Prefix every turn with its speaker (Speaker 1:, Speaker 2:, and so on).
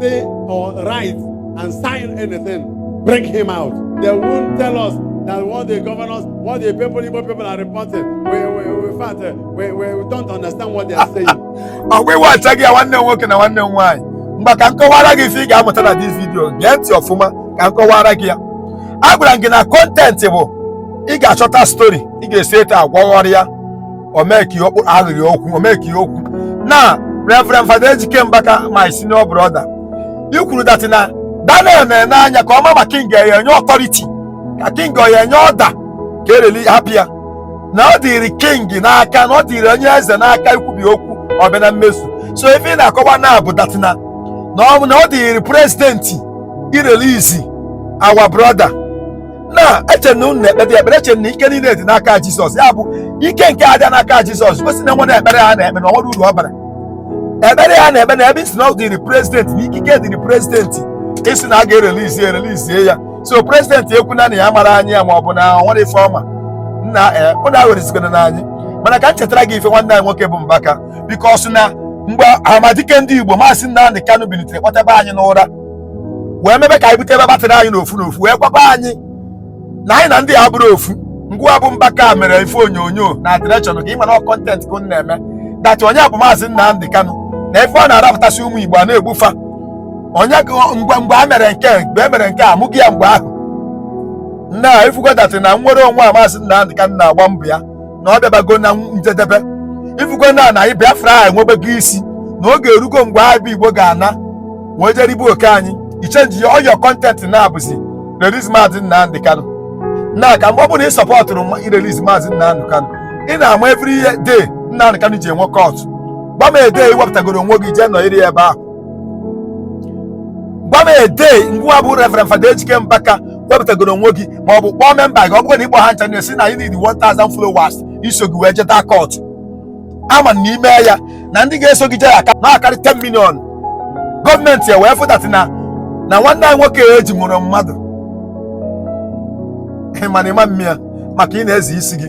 Speaker 1: say or write and sign anything, bring him out. They won't tell us that what the governors, what the people, Igbo people are reporting. We, we, we, in fact, uh, we, we don't understand what they are saying. ọgwụ iwe
Speaker 2: achaghị ya nwanne m nwoke na nwanne m nwaanyị ngwa ka m kọwara gị ife ị ga-amụta na dis vidio gee ntị ọfụma ka m kọwara gị ya agwara m gị na kọntentị bụ ị ga-achọta stori ị ga-esi etu a gwọgharịa omeki okpu aghịrị okwu omeki okwu na reverend fada ejike mbaka my senior brother i kwuru that na daniel na-ene anya ka ọ ma ma king ya enye ọtọriti ka king ya enye ọda ka e reli hapụ ya na ọ dịrị king n'aka na ọ dịrị onye eze n'aka ikwubi okwu ọ bịa na mmezu so ife ị na-akọwa na bụ that na na ọ na ọ dịrị prezidenti irelizi our brother na eche na unu na-ekpeta ekpere eche na ike niile dị n'aka jizọs ya bụ ike nke adịa n'aka jizọs gosi na nwere ekpere ha na-ekpe na o nwere uru ọ bara ekpere ya na-ekpe na ebe ị sị na ọ dịrị prezidenti na ikike dịrị prezidenti ịsị na a ga-erelizi erelizie ya so prezidenti ekwuna na ya mara anyị ya ma ọ bụ na o nwere ife ọ ma nna ee ụnụ awerezikwena na anyị mana ka m chetara gị ife nwanne anyị nwoke bụ mbaka bikos na mgbe amadike ndị igbo maazị Nnamdi Kanu bilitere kpọtaba anyị n'ụra wee mebe ka anyị bute ebe batịrị anyị n'ofu n'ofu wee gwakwa anyị na anyị na ndị a abụrọ ofu ngị wa bụ mbaka mere ife onyonyo na direction ka ị ma na kọntent ka unu na-eme that onye bụ maazị Nnamdi Kanu na ife ọ na-arafutasị ụmụ Igbo a na-egbu fa onye mgbe mgbe a mere nke mgbe e mere nke a mụghị ya mgbe ahụ na ị fugo that na nnwere onwe a maazị Nnamdi Kanu na-agba mbọ ya na ọ bịabago na njedebe ị fugo na na anyị Biafra a enwebego isi na oge erugo mgbe anyị bụ Igbo ga-ana wee je ribe oke anyị ị chenjie all your kọntentị na ọ bụzi release maazị Nnamdi Kanu na ka mgbe ọ bụla ị sọpọtụrụ ma ị release maazị Nnamdi Kanu ị na-ama every year day Nnamdi Kanu ji enwe kọtụ gwa m the day i wepụtagoro onwe gị jee nọyiri ya ebe ahụ gwa m the day ngị wa bụ Reverend Fada Ejike Mbaka wepụtagoro onwe gị ma ọ bụ kpọọ memba gị ọ bụrụ na ịkpọ ha ncha na-asị na anyị need 1000 followers iso gị wee jeta kọtụ a ma na i mee ya na ndị ga-eso gị jee aka na-akarị 10 million gọọmenti ya wee fụ that na na nwanne anyị nwoke e ji mụrụ mmadụ ị ma na ị ma mme ya maka ị na-eze isi gị